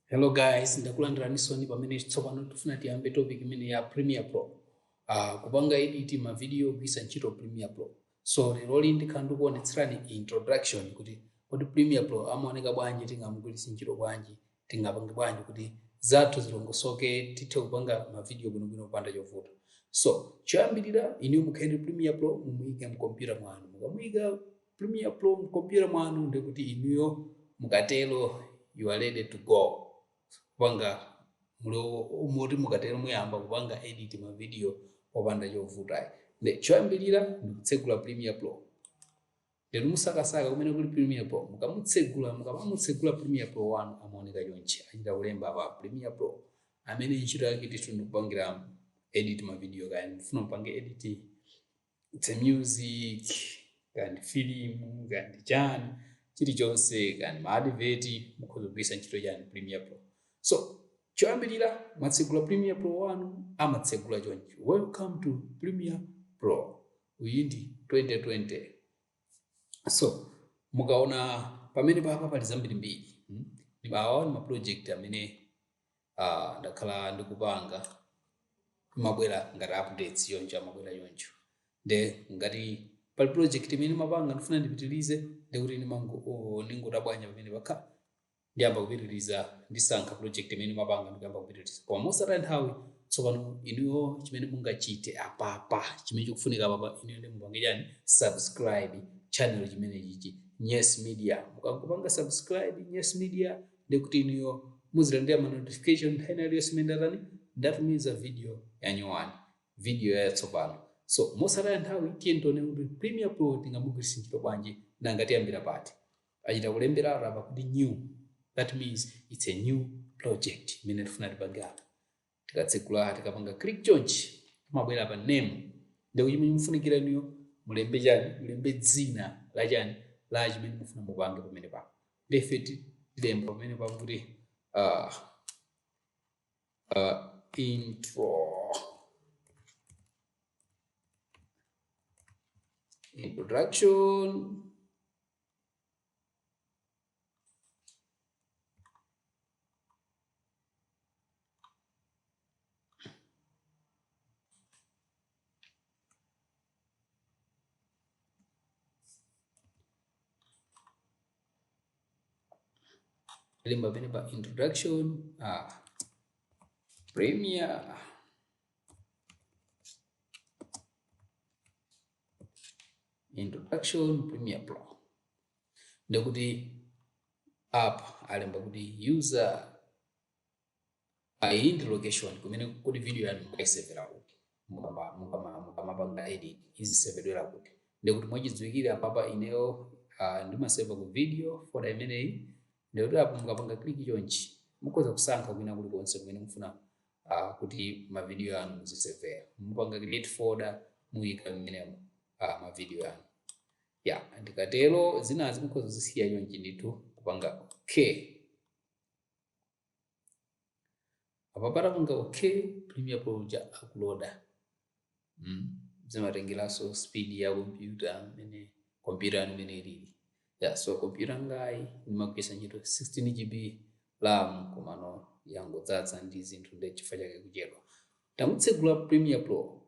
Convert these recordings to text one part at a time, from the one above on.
hello guys ndakulandiranisoni pamene tsopano tifuna tiyambe topic imene ya premier pro uh, kupanga edit mavidiyo kugwiritsa ntchito Premiere Pro So leroli ndikhala ndikuonetserani introduction kuti kodi Premiere Pro amaoneka bwanji, tingamugwiritse ntchito bwanji, tingapange bwanji kuti zathu zilongosoke, tithe kupanga mavidiyo bwinobwino kupanda chovuta. So choyambirira inuyo mukhale ndi Premiere Pro mumuyike mkompyuta mwanu. Mukamuyika Premiere Pro mkompyuta mwanu ndekuti inuyo mukatero you are ready to go. kupanga muli moti mukatero muyamba kupanga edit ma video popanda chovuta ayi nde choyambirira ndikutsegula Premiere Pro nde musakasaka kumene kuli Premiere Pro mukamutsegula mukamamutsegula Premiere Pro wanu amaoneka chonchi achita kulemba apa Premiere Pro amene ntchito yake ndithu ndikupangira edit ma video kaya ndikufuna mupange edit kaya ndi music kaya ndi filimu kaya ndi chani chilichonse kaya ndi maadiveti mukhoza kugwiritsa ntchito chani Premiere Pro so choyambirira mwatsegula Premiere Pro wanu amatsegula chonchi welcome to Premiere Pro uyi ndi 2020 so mukaona pamene papa pali zambirimbiri hmm? awa ni maproject amene uh, ndakhala ndikupanga amabwera ngati updates choncho amabwera choncho nde ngati pali project imene ndimapanga ndifuna ndipitilize ndekuti ndingotabwanya pamenepa ndiyamba kupitiliza ndisankha project imene ndimapanga ndikuyamba kupitiliza koma mosataya nthawi tsopano inuyo chimene mungachite apapa chimene chikufunika apapa inuyo ndi mupange chani subscribe channel chimene chili Nyes Media mukangopanga subscribe Nyes Media ndiye kuti inuyo muzilandira ma notification nthawi ina iliyonse imene ndatani ndatumiza video yanyuwani video yatsopano so mosataya nthawi tiyeni tione kuti Premiere Pro tingamugwiritse ntchito bwanji nanga tiyambira pati achita kulembera apa kuti new that means it's a new project imene tifuna tipange apa tikatsegula tikapanga click chonchi amabwera pa name ndekuti chimene mufunikira inuyo mulembe chani mulembe dzina la chani la chimene mufuna mupange pamenepa nde ife tilemba pamenepa kuti uh, uh, intro introduction lemba pene pa introduction ah, premier introduction premier pro ndekuti apa alemba kuti user and location kumene kuti video yanu mukayisevera kuti mukamapanga edit izisevedwera kuti ndekuti mwachidziwikire apapa ineyo uh, ndimaseva ku video folder imeneyi ndekuti apo mukapanga click chonchi mukhoza kusankha kwina kulikonse kumene mufuna uh, kuti mavidiyo anu muzisevera mupanga create folder muyika mmenemo uh, mavidiyo anu Ya, ndikatero zinazi mukhoza kuzisiya chonchi ndithu kupanga okay. Apa patapanga okay, Premiere Pro ija akuloda. Mm. Zimatengeranso speed ya kompyuta imene kompyuta yanu imene ilili. Ya, so kompyuta yangayi ndimagwiritsa ntchito 16 GB RAM komano yangodzadza ndi zinthu ndi chifukwa chake kuchedwa. Tamutsegula Premiere Pro.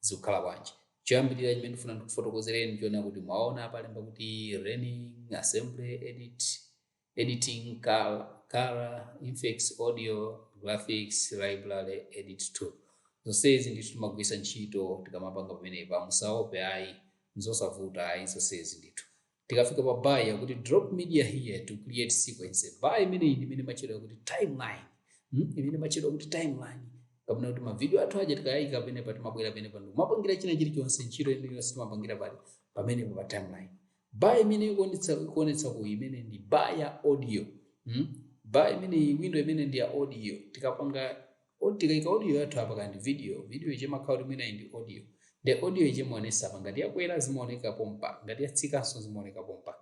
zikukhala bwanji. Choyambirira chimene ndikufuna ndikufotokozereni chioneka kuti mwaona apalemba kuti learning assembly edit editing col color effects audio graphics library edit tool zonsezi ndithu timagwiritsa ntchito tikamapanga pamenepa musaope ayi nzosavuta ayi zonsezi ndithu Tikafika pa bar yakuti drop media here to create sequence. Bar imeneyi ndi imene imatchedwa yakuti timeline. Hmm? Imeneyi imatchedwa kuti timeline. Kapena kuti mavidiyo athu aja tikawayika pamenepa timabwera pamenepa ndi kumapangira china chilichonse ntchito iliyonse timapangira pali pamenepa pa timeline. Bar imene ikuonetsa ikuonetsa ku imene ndi bar ya audio. Hmm? Bar imeneyi window imeneyi ndi ya audio. Tikapanga Kodi tikaika audio yathu apa kaya ndi video, video ija imakhala kuti mwina ili ndi audio nde audio ija imaonesa apa ngati yakwera zimaoneka pompa ngati yatsikanso zimaoneka pompa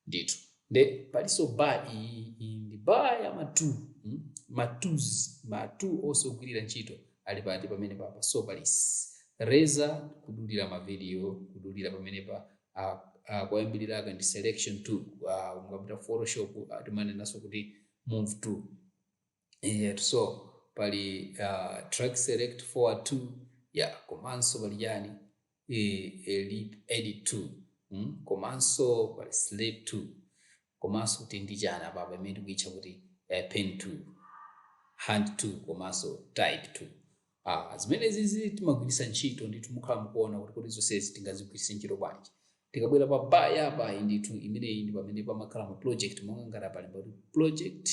ndithu nde palinso bar iyi iyi ndi bar ya ma tool mm? ma tools ma tool onse ogwirira ntchito ali pati pamene papa so pali s- razor kudulira ma video kudulira pamene pa ah, ah, koyambirira aka ndi selection tool uh, mukapita photoshop uh, timanenanso kuti move tool Eyetu so pali uh, track select forward tool ya yeah, komanso pali chani e, ripple edit tool mm? komanso pali slip tool komanso kuti ndi chani apapa imene tikuitcha kuti eh, pen tool hand tool komanso type tool ah, zimenezizi timagwiritsa ntchito ndithu mukhala mukuona kuti kuti zonsezi tingazigwiritse ntchito bwanji tikabwera pa bar ya apa ndithu imeneyi ndi pamene pamakhala ma project monga ngati apalemba kuti project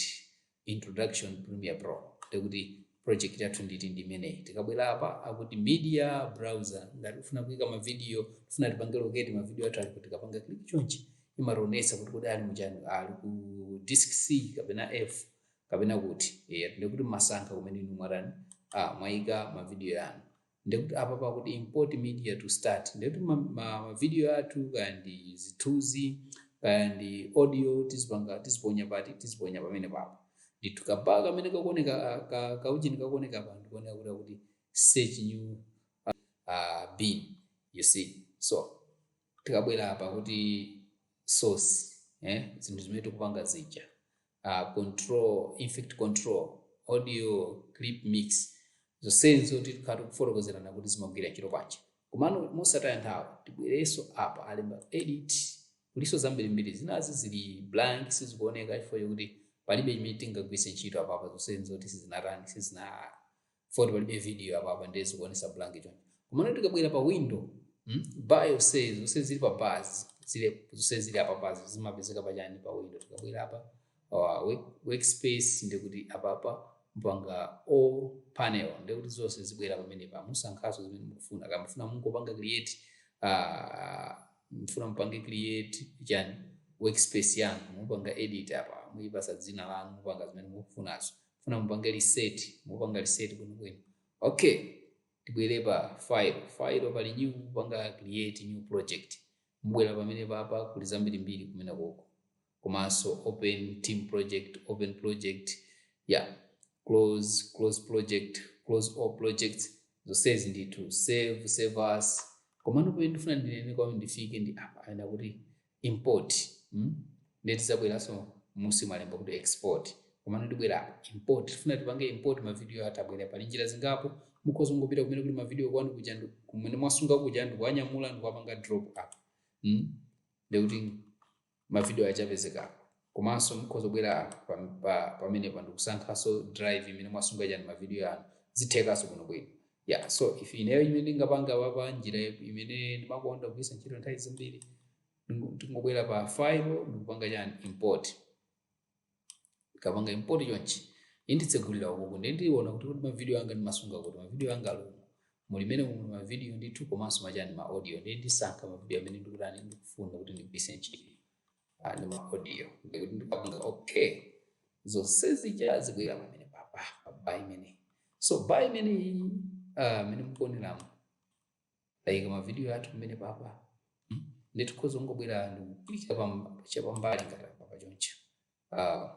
Introduction Premiere Pro ndiye kuti project yathu ndithu ndi imeneyi tikabwera apa akuti media browser ngati ufuna kuika mavidiyo tifuna tipange locate mavidiyo athu ali kuti tikapanga click chonchi imationetsa kuti kodi ali muchani ali ku disk c kapena f kapena kuti yeah, ndikuti mumasankha kumene inu mwatani ah, mwaika mavidiyo anu ndekuti apa pakuti import media to start ndekuti ma, ma, ma video athu kaya ndi zithunzi kaya ndi audio tizipanga tiziponya pati tiziponya pamene papa ndithu kaba kamene kakuoneka ah, ka, kaujini kakuoneka apa ndikuoneka kuti pakuti search new uh, bin you see so tikabwera apa kuti source eh, zinthu zimene tikupanga zija uh, control effect control audio clip mix zonsezo tikhala tikufotokozerana kuti zimagwira ntchito bwanji komano mosataya nthawi tibwerenso apa alemba edit kulinso zambirimbiri zinazi zili blank sizikuoneka chifukwa chakuti palibe chimene tingagwiritse ntchito apapa zonsezo kuti sizinatani sizina Poti palibe video apapa ndiye zikuonesa blank choncho. Komano tikabwera pa window, mm? Bar yonse zonse zili pa bars, zile zonse zili apa bars zimapezeka pa chani pa window. Tikabwera apa uh, work, workspace ndiye kuti apapa mupanga all panel ndiye kuti zonse zibwera pamene pa musankhaso zimene mukufuna. Kaya mufuna mungopanga create uh, mfuna mpange create chani workspace yanu mupanga edit apa muipasa dzina lanu mupanga zimene mukufunazo funa mupange reset mupanga reset bwino bwino okay tibwere pa file file pali new mupanga create new project mbwera pamene papa kuli zambirimbiri kumene koko komanso open team project open project yeah close close project close all projects zonsezi ndithu save save as komano pamene ndifuna ndinene kwamene ndifike ndi apa alemba kuti import mm ndiye tizabweraso musi malemba kuti export komano ndibwerapo import tifuna tipange import ma video atabwera pali njira zingapo mukhoza ngopita kumene kuli ma video kwanu kuja ndi- kumene mwasunga kuja ndikuwanyamula ndikuwapanga drop apa mm ndikuti ma video achapezekapo Komanso mukhoza kubwera anthu pa pa pamenepa ndikusankhanso drive imene mwasunga chani ma video anu zithekaso bwino bwino yeah so if ineyo imene ndingapange apapa njira imene ndimakonda kugwiritsa ntchito nthawi zambiri ndingo- ndingobwera pa file ndikupanga chani import ndikapanga import chonchi inditsegulira ukuku ndiye ndiona kuti kuti mavidiyo anga ndimasunga kuti mavidiyo anga ali umu mmenemu muli mavidiyo ndithu komanso machani ma audio ndiye ndisankha mavidiyo amene ndikutani ndikufuna kuti ndigwiritse ntchito ah, ndi ma audio ndikuti ndipanga okay zonse zija zibwera pamene papa pa ba imeneyi so ba imeneyi ah, imene mukuoneramu like mavidiyo athu pamene papa hmm? nditikhoza kungobwera ndikuklika chapambali ngati papa choncho ah,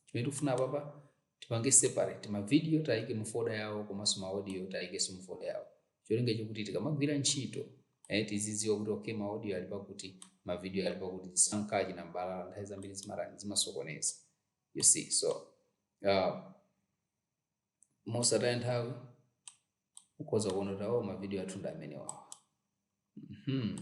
chimene tikufuna papa Tipange separate ma video tiayike mu folder yawo komanso ma audio tiayikenso mu folder yawo. Cholinga chokuti tikamagwira ntchito eh tizidziwa kuti okay ma audio ali pakuti, ma video ali pakuti tisankachi na mbalala nthawi zambiri zimatani zimasokoneza. You see so uh, mosataya nthawi mukhoza kuona kuti awo ma video athu ndi amenewawa. Mhm.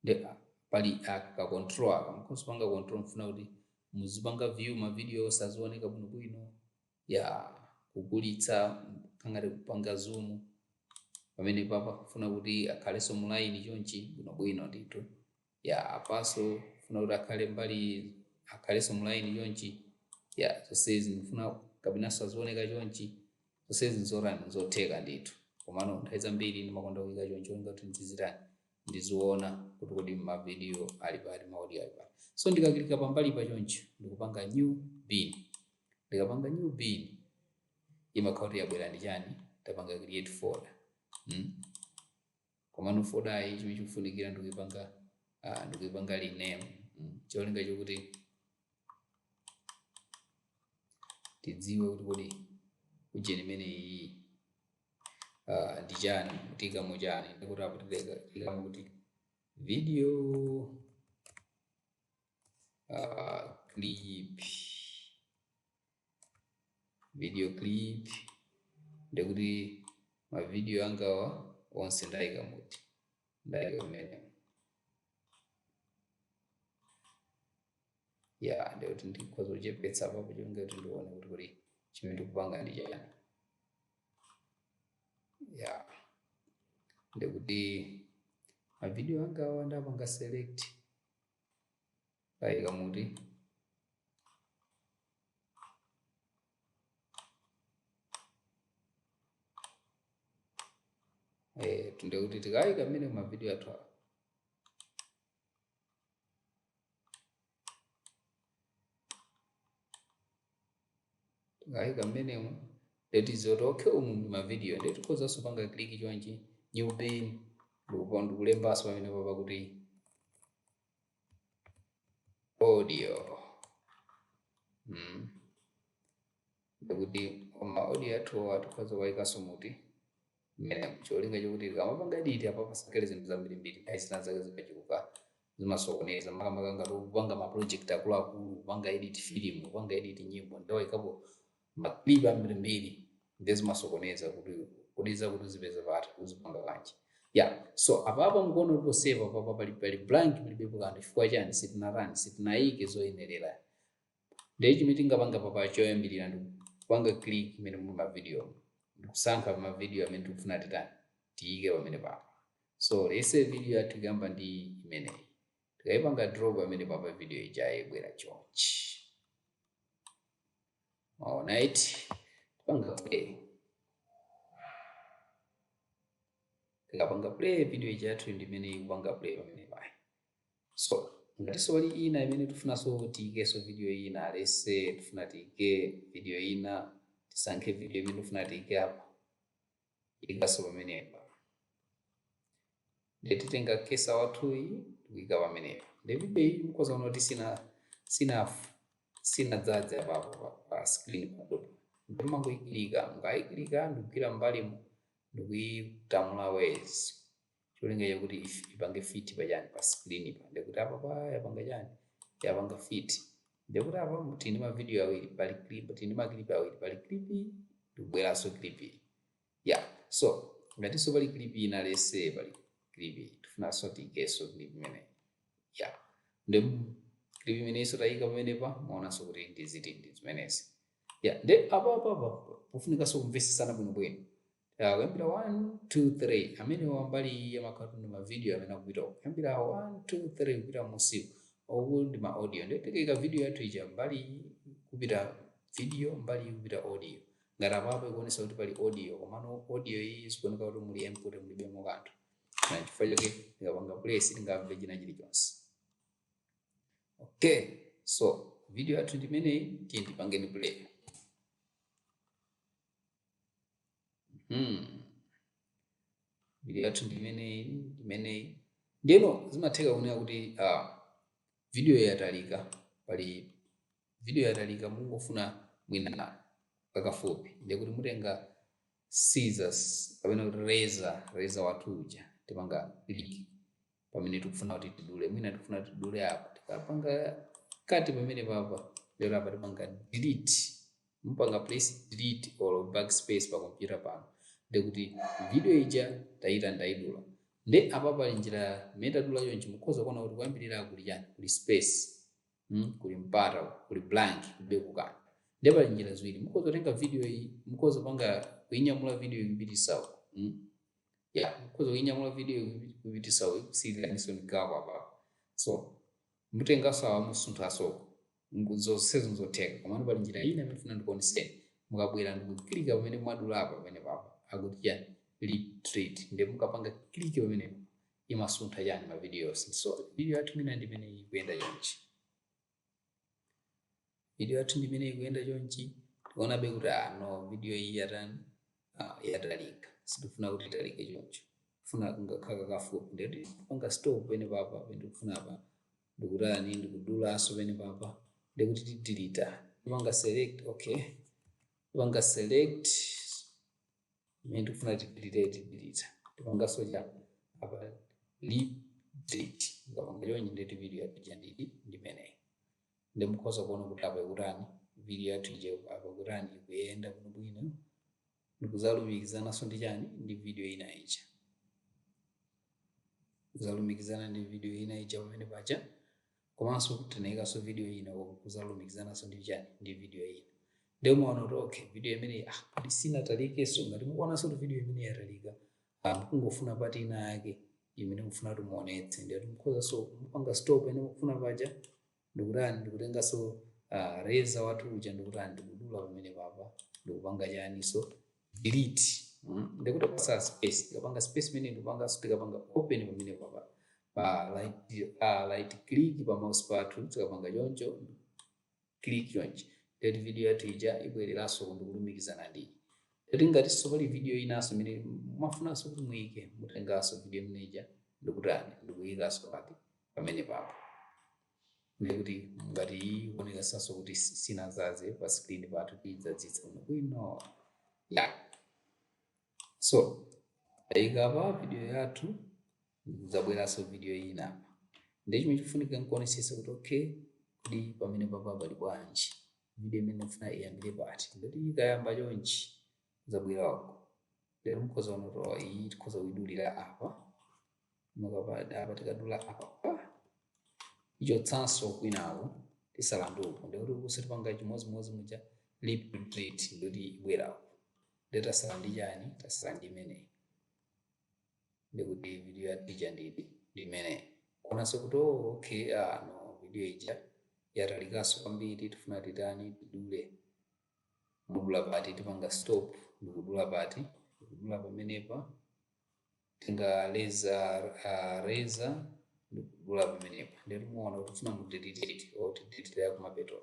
nde pali aka control aka mkhoza kupanga control mfuna kuti muzipanga view ma video onse azioneka bwino bwino ya kukulitsa kangati kupanga zoom pamene papa funa kuti akhaleso mulaini chonchi bwino bwino ndithu ya apaso funa kuti akhale mbali akhaleso mulaini chonchi ya zonsezi ndifuna kapenaso azioneka chonchi zonsezi nzotani nzotheka ndithu komano nthawi zambiri ndimakonda kuika chonchi kuti ndizitani ndiziona kuti kodi mavidiyo ali pati maaudio ali pati so ndikakilika pambali pa chonchi ndikupanga new bin ndikapanga new bin imakhala kuti yabwera ndi chani yapanga create folder mm? Komano fodayi chimene chikufunikira ndikuipanga uh, ndikuipanga rename mm. cholinga chokuti tidziwe kuti kodi ujeni imene iyi uh, ndi chani tiikamo chani ndekuti apo tiikamo kuti video uh, clip video clip ndekuti mavidiyo angawa onse ndaika muti ndaika mmenemu ya ndekuti ndikhoza kuchepetsa apapo cholinga kuti ndione kuti kodi chimene ndikupanga ndi chani ya ndekuti mavidiyo angawa ndapanga select ndaika muti Eh, ndekuti tikaika mmene mavidiyo athu awa tikaika mmenemo nde tiziti okay umu ndi mavidiyo nde tikhozanso panga kliki chonchi new bin ndikulembanso pamenepo pakuti audio mm. ndekuti ma audio athu awa tikhoza kuwayikanso muti mmene cholinga chokuti tikamapanga editi apa pasakhale zinthu zambirimbiri ayi zina zake zikachuluka zimasokoneza makamaka ngati kupanga ma project akuluakulu kupanga edit film kupanga edit nyimbo nde tawayikapo maklip ambirimbiri ndezimasokoneza kuti kodi zakuti uzipeza pati uzipanga kanjani ya so apapa mukuona kuti ponsepa papa pali pali blank palibepo kanthu chifukwa chani sitinatani sitinayike zoyenerera ndiye chimene tingapanga papa choyambirira ndi kupanga click imene muli mavidiyo ndikusankha pa mavidiyo amene tikufuna titani tiyike pamene papa so let's say video yathu ikuyamba ndi imeneyi Tikaipanga drop pamene papa video ija ibwera chonchi. Mwaona eti tipanga play. Tikapanga play video ija yathu ndi imene ikupanga play pamene paja. So ngatinso pali ina imene tifunanso tiikeso video ina let's say tifuna tiike video ina tisankhe video imene tifuna tiike apa Tiyikaso pamenepa. Ndiye titenga cursor wathuyu tikuyika pamenepa. Ndiye video iyi mukhoza kuona kuti sina sina sinadzadze apapo pa, pa screen pathupa. Ndiye mumangoyiklika, mukayiklika ndikugwira mbali mu ndikuyitamula mwezi cholinga chakuti if- ipange fit pachani pa screen pa ndikuti apa pa yapanga chani yapanga fit ndikuti apa tili ndi mavidiyo awiri pali clip tili ndi maklipi awiri pali clip iyi ndikubweranso clip iyi ya so ngatinso pali clip ina let's say pali clip iyi tifunanso tiikenso clip imeneyi ya ndi clip imeneyinso tayika pamenepa muonanso kuti ndi izi ndi zimenezi ya nde apapapa pofunikanso kumvesesana bwinobwino Ah, kuyambira 1 2 3 amenewa mbali iyi amakhala ndi mavidiyo amene akupita uku. kuyambira 1 2 3 kupita munsi uku ndi ma audio ndiye tikaika vidiyo yathu ija mbali iyi kupita vidiyo mbali iyi kupita audio ngati apapo ikuonesa kuti pali audio komano audio iyi ikuoneka kuti muli empty mulibemo kanthu nchifukwa chake tikapanga play sitingamve china chilichonse okay so video yathu ndimeneyi tiyeni tipangeni play hmm. video yathu ndimeneyi ndimeneyi ndiyeno zimatheka kunena kuti uh, video yatalika pali video yatalika mungofuna mwina kakafupi ndiye kuti mutenga scissors kapena kuti razor razor wathu uja tipanga click pamene tikufuna kuti tidule mwina tikufuna kuti tidule apa tikapanga cut pamene papa ndiyeno apa tipanga delete mupanga press delete or backspace pa kompyuta panu ndekuti video ija tayitani tayidula nde apa pali njira imene tadula chonchi mukhoza kuona kuti koyambirira kuli chani kuli space mm, kuli mpata kuli blank kulibeko kanthu nde pali njira ziwiri mukhoza kutenga video iyi mukhoza kupanga kuinyamula video iyi kupititsa uko mm. ya mukhoza kuinyamula video kuipitisa ikusiyiraniso ndi gap apa so mutengaso awa musunthaso zonsezi nzotheka komano pali njira ina imene funa ndikuoneseni mukabwera ndikukilika pamene mwadula apa pamene papa akuti chani ripple delete nde mukapanga click pamene imasuntha chani mavidiyo yonse so video yathu mina ndimene ikuyenda chonchi video yathu ndi imene ikuyenda chonchi tikuonabe kuti ah no video iyi yatani ah, yatalika sitifuna kuti italike choncho funa ingokhala kakafupi ndikuti tipanga stop pene papa ndikufuna apa ndikutani ndikudulaso pene papa ndikuti tidilita tipanga select okay tipanga select imene tikufuna tidilita tipanganso cha apa ripple delete ukapanga chonchi ndi kuti video yathu ija ndidi ndimeneyi ndi mukhoza kuona kuti apa ikutani video yathu ija apa ikutani ikuyenda bwinobwino ndikuzalumikizananso ndi chani ndi video ina ija kuzalumikizana ndi video ina ija pamene paja komanso tinayikanso video ina kuzalumikizananso ndi chani ndi video ina ndiye muona kuti okay video imeneyi ah kodi sinatalikenso ngati mukuonanso kuti video imeneyi yatalika ah mukungofuna part ina yake imene mukufuna kuti muonetse ndiye mukhozaso kupanga stop pene mukufuna paja ndikutani ndikutenganso ah, razor wathu uja ndikutani ndikudula pamene papa ndikupanga chaniso delete mm, ndikuti kupasa space tikapanga space imene ndikupanga tikapanga open pamene papa pa right, uh, right click pa mouse pathu tikapanga choncho click chonchi nde kuti video yathu ija ibwereranso ndikulumikizana nde kuti ngatinso pali video inanso imene mwafunanso kuti muyike mutenganso video imene ija ndikutani ndikuyikanso pake pamene papa ndiye kuti ngati ikuoneka saso kuti si- sinazaze pa screen pathu tidzadzitsa bwino ya so ayika pa video yathu kudzabweranso video ina ndiye chimene chikufunika nkuonesesa kuti okay kodi pamene papa pali bwanji video imene ndifuna iyambire pati nde kuti ikayamba chonchi zabwera wako lero mukhoza kuona kuti iyi tikhoza kuidulira apa mukapanga apa tikadula apa tichotsanso kwinaku tisala ndi uku ndikuti kusi tipanga chimodzimodzi muja ripple delete ndikuti ibweraku nde tasala ndi chani tasala ndi imeneyi ndikuti video yathu ija ndidi ndi imeneyi kuonanso kuti oh, okay ah, no video ija yatalikanso kwambiri tifuna titani tidule mudula pati tipanga stop ndikudula pati ndikudula pamenepa tinga razor uh, razor ndikudula pamenepa ndiye muona kuti tifuna mudelete or tidelete ya kumapeto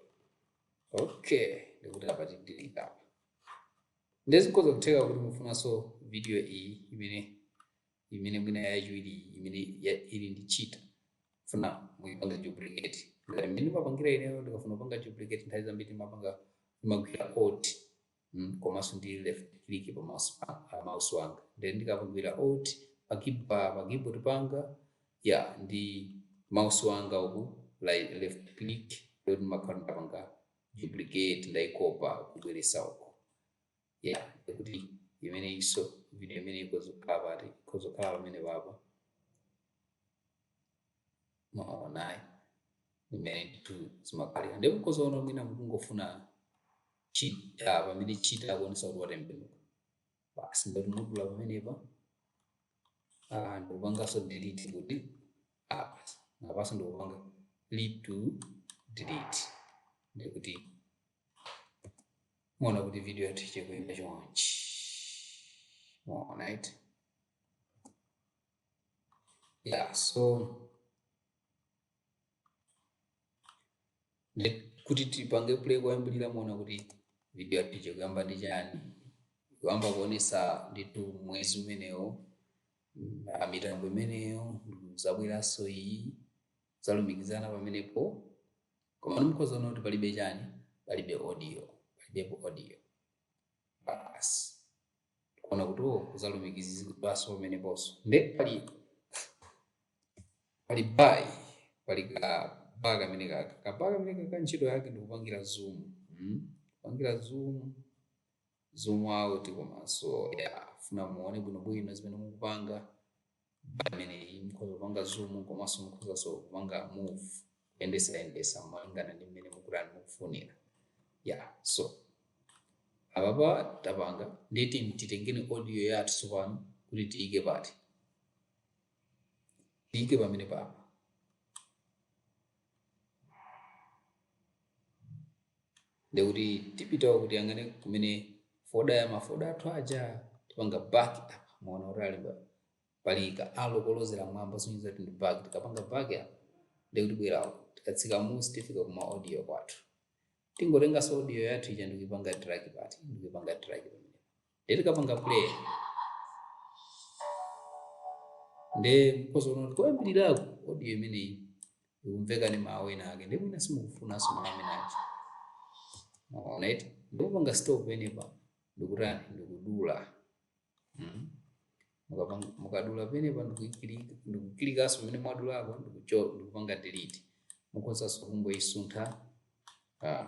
okay ndikuti apa tidelete apa ndezikhoza kutheka kuti mufunanso video iyi imene imene mwina yachiwiri imene ya- ili ndi cheetah funa muipange duplicate ngati mmene mapangira ineyo ndikafuna kupanga duplicate nthawi zambiri mapanga magwira alt mm, komanso ndi left click pa mouse pa- pa mouse wanga then ndikapagwira alt pa key- pa pa keyboard panga ya ndi mouse wanga uku like left click ndiye ndimakhala ndapanga duplicate ndaikopa kubweresa uko yeah kuti imeneyiso video imene ikozokhala pati ikozokhala pamene papa mwaonayi imene ndithu zimakhalira ndi mukhoza ona mwina mukungofuna cheetah pamene cheetah akuonesa kuti watembenuka basi ndekuti mudula pamenepa ah, ndikupanganso delete kuti apa apanso ndikupanga ripple delete ndikuti muona kuti video yathu ichekuyenda chonchi mwaona eti yeah so nde- kuti tipange play koyambirira muona kuti video yathu ichekuyamba ndi chani kuyamba kuonesa nditu mwezi umenewo mm, ah, mitambo imeneyo mm, zabweranso iyi zalumikizana pamenepo koma ndimukhoza kuona kuti palibe chani palibe audio palibepo audio basi kuona kuti uwo oh, kuzalumikizidwaso pameneposo nde pali pali bai pali ka bar kamene kaka ka bar kamene kaka ntchito yake ndi kupangira zoom hmm? kupangira zoom zoom out komanso ya funa muone bwinobwino zimene mukupanga pameneyi mukhoza kupanga zoom komanso mukhozanso kupanga move kuyendesa yendesa malingana ndi mmene mukutani mukufunira ya so apapa tapanga ndiye tiyeni titengeni audio yathu tsopano kuti tiyike pati tiyike pamene papa ndekuti tipita kuti tiyang'ane kumene foda ya mafoda athu aja tipanga back apa muona kuti alemba pali ka arrow kolozera mwamba sonyeza kuti ndi back tikapanga back apa ndekuti bwerawo tikatsika mmusi tifika kuma audio kwathu tingotenganso audio yathu ija ndikuipanga drag pati ndikuipanga drag pamene Ndiye tikapanga play ndiye mukhoza kuona kuti koyambiriraku audio imeneyi ikumveka ndi mawu ena ake ndiye mwina simukufunanso mawu amene aja Alright ndikupanga stop penepa ndikutani ndikudula Mhm. Mukapanga- mukadula penepa ndikukilika- ndikukilikanso pamene mwadulako ndikucho- ndikupanga delete mukhozanso kungoyisuntha ah,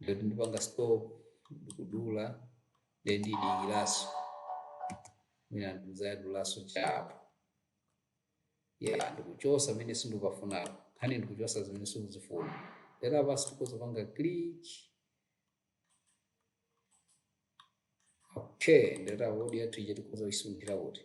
ndiye kuti ndipanga stop ndikudula then ndidikirenso mwina ndizadulanso chapo ya ndikuchosa pamene sindikupafunapo nkhani ndikuchosa zimene simukuzifuna then apanso tikoza panga click okay nde audio yathu ija tikoza kuisunthira kuti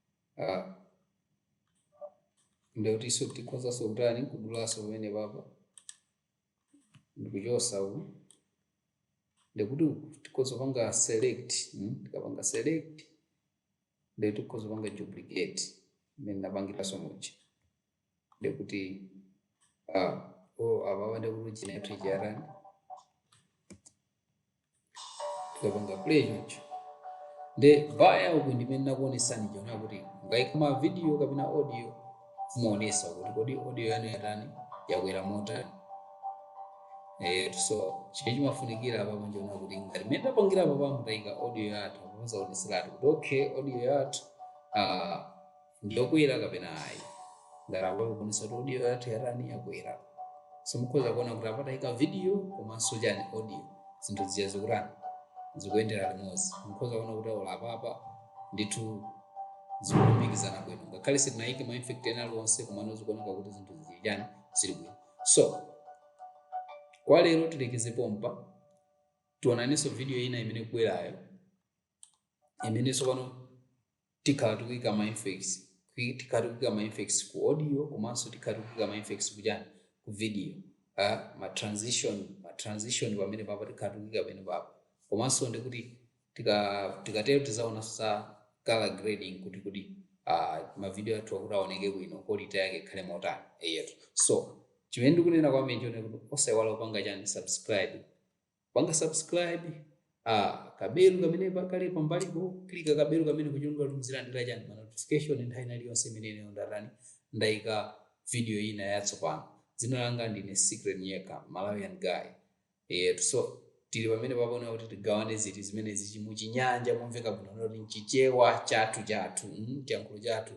Ah, ndekutinso tikhozanso kutani kudulanso pamene papa ndikuchosa uku ndikuti uku tikhoza kupanga select mm, tikapanga select ndekuti tikhoza kupanga duplicate mmene tinapangiranso muja ndekuti ah, oh, apapa ndekuti chinayathu ija yatani tikapanga play choncho nde vaya uku ndimene ndakuonesani zonena kuti mukaika ma video kapena audio muonesese kuti kodi audio yanu yatani yakwera motani Eh, so chimene chimafunikira apa nchonena kuti ngati mmene tapangira apa pamene taika audio yathu muzaoneseratu kuti okay audio yathu ah, ndiyokwera kapena ayi ngati apa ikuonesa kuti audio yathu yatani yakwera so mukhoza kuona kuti apa tayika video komanso chani audio zinthu zija zikutani zikuyendera limodzi mukhoza kuona kuti ah apapa ndithu zikulumikizana bwino ngakhale sitinayike ma effect ena aliwonse komano zikuoneka kuti zinthu zili chani zili bwino so kwa lero tilekeze pompa tionanenso mu video ina imene ikubwerayo imene tsopano tikhala tikuyika ma effects Kwi- tikhala tikuyika ma effects ku audio komanso tikhala tikuyika ma effects kuchani ku video ah, ma transition ma transition pamene papa tikhala tikuyika pamene papa komanso ndi kuti tika tikatero tizaonanso za color grading kuti kodi ah, ma video athu kuti aoneke bwino quality yake ikhale motani eyetu so chimene ndikunena kwambiri chonena kuti osaiwala kupanga chani subscribe panga subscribe ah kabelu kamene kali pambalipo klika kabelu kamene ncholinga kuti muzilandira chani ma notification nthawi ina iliyonse imene ineyo ndatani ndaika video ina yatsopano dzina langa ndine secret nyeka malawian guy eyetu so tili pamene pano kuti tigawane zinthu zimenezizi muchinyanja momveka bwino kuti mchichewa chathu chathu mm, chiyankhulo chathu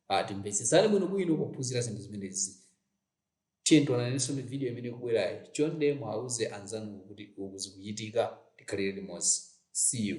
ah timvetsesane bwino bwino pophunzira zinthu zimenezi Tiyeni tionanenso ndi video imene ikubwerayo. Chonde muauze anzanu kuti uku zikuchitika. Tikhalire limodzi. See you.